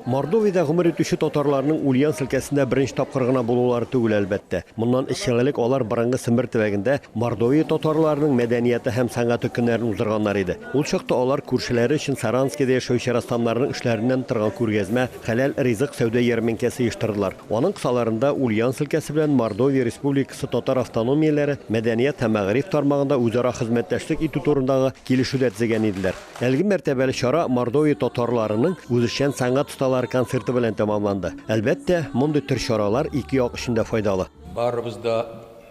Мордовиядә гомер итүче татарларның Ульяновск өлкәсендә беренче тапкыр гына булулары түгел, әлбәттә. Моннан өч ел элек алар борынгы Сембер төбәгендә Мордовия татарларының мәдәнияте һәм сәнгате көннәрен уздырганнар иде. Ул чакта алар күршеләре өчен Саранскида яшәүче рәссамнарның эшләреннән торган күргәзмә, хәләл ризык сәүдә ярминкәсе оештырдылар. Аның кысаларында Ульяновск өлкәсе белән Мордовия Республикасы татар автономияләре мәдәният һәм мәгариф тармагында үзара хезмәттәшлек итү турындагы килешү дә төзегән иделәр. Әлеге мәртәбәле чара Мордовия татарларының үзешчән сәнгать осталары концерты белән тәмамланды. Әлбәттә, мондый төр чаралар ике як өчен дә файдалы. Барыбыз да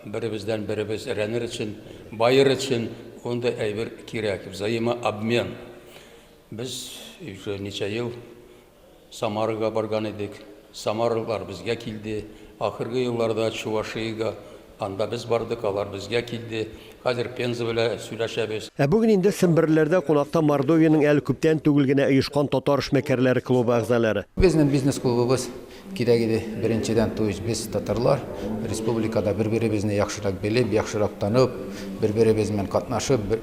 беребездән беребез рәнер өчен, баер өчен ундый әйбер кирәк, взаимообмен. Без уже ничә ел Самарага барган идек. Самарлылар безгә килде. Ахыргы елларда Чувашиягә, анда без бардык, алар безгә килде. Хәзер Пенза белә сөйләшәбез. Ә бүген инде Семберлеләрдә кунакта Мордовиянең әле күптән түгел генә оешкан Татар эшмәкәрләре клубы әгъзаләре. Безнең бизнес клубыбыз кирәк иде, беренчедән, то есть без татарлар, республикада бер-беребезне яхшырак белеп, яхшырак танып, бер-беребез белән катнашып, бер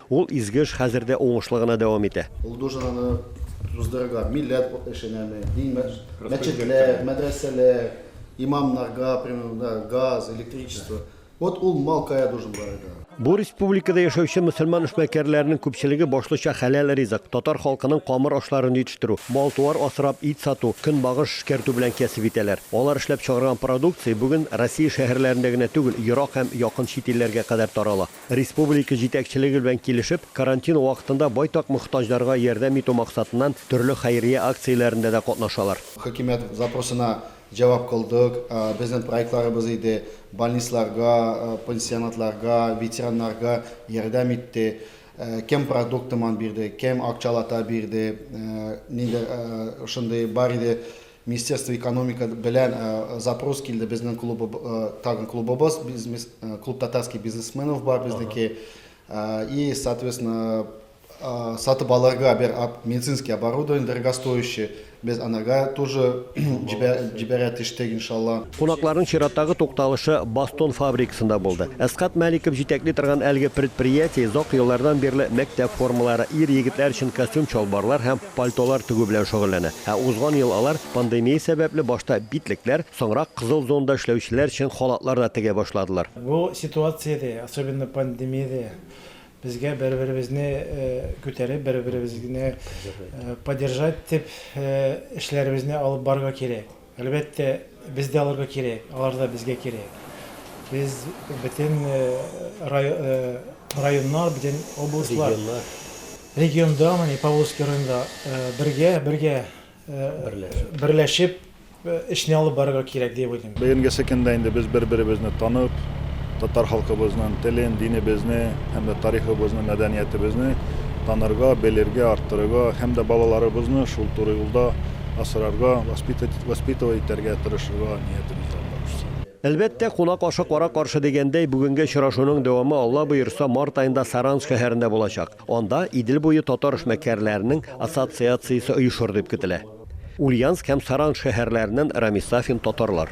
Ул изге эш хәзер дә уңышлы гына дәвам итә. Ул дужинаны уздырырга милләт эшенәме, дин мәчетләр, мәдрәсәләр, имамнарга примерно газ, электричество. Вот ул мал кая дужин барырга. Бу республикада яшәүче мөселман эшмәкәрләренең күпчелеге башлыча хәләл ризык, татар халкының камыр ашларын җитештерү, мал-туар асрап, ит сату, көнбагыш эшкәртү белән кәсеп итәләр. Алар эшләп чыгарган продукция бүген Россия шәһәрләрендә генә түгел, ерак һәм якын чит илләргә кадәр тарала. Республика җитәкчелеге белән килешеп, карантин вакытында байтак мохтаҗларга ярдәм итү максатыннан төрле хәйрия акцияләрендә дә катнашалар. Хөкүмәт запросына җавап кылдык. Безнең проектларыбыз иде, больницларга, пансионатларга, ветераннарга ярдәм итте. Кем продукт томан бирде, кем акчалата бирде, нидер шундый бар иде. Министерство экономика белән запрос килде безнең клубы тагын клубыбыз бизнес клуб татарский бизнесменов бар безнеке и соответственно сатып алырга бер медицинский оборудование дорогостоящий без анарга тоже җибәрә тиштек иншалла. Кунакларның чираттагы тукталышы Бастон фабрикасында булды. Әсгать Мәликов җитәкли торган әлеге предприятие озак еллардан бирле мәктәп формалары, ир-егетләр өчен костюм-чалбарлар һәм пальтолар тегү белән шөгыльләнә. Ә узган ел алар пандемия сәбәпле башта битлекләр, соңрак кызыл зонада эшләүчеләр өчен халатлар да тегә башладылар. Бу ситуациядә, особенно пандемиядә, безгә бер-беребезне күтәреп, бер-беребезне поддержать итеп эшләребезне алып барырга кирәк. Әлбәттә, без дә аларга кирәк, алар да безгә кирәк. Без бөтен районнар, бөтен областьлар, регионда, менә Павловский районда бергә, бергә берләшеп эшне алып барырга кирәк дип уйлыйм. Бүгенгесе көндә инде без бер-беребезне танып, татар халкыбызның телен, динебезне һәм дә тарихыбызны, мәдәниятебезне танырга, белергә, арттырырга һәм дә балаларыбызны шул туры юлда асрарга, воспитать, воспитывать итәргә тырышырга ниятебез дә бар шул. Әлбәттә, кунак ашы кара каршы дигәндәй, бүгенге очрашуның дәвамы, Алла боерса, март аенда Саранск шәһәрендә булачак. Анда Идел буе татар эшмәкәрләренең ассоциациясе оешыр дип көтелә. Ульяновск һәм Саранск шәһәрләреннән Рамис Сафин, Татарлар.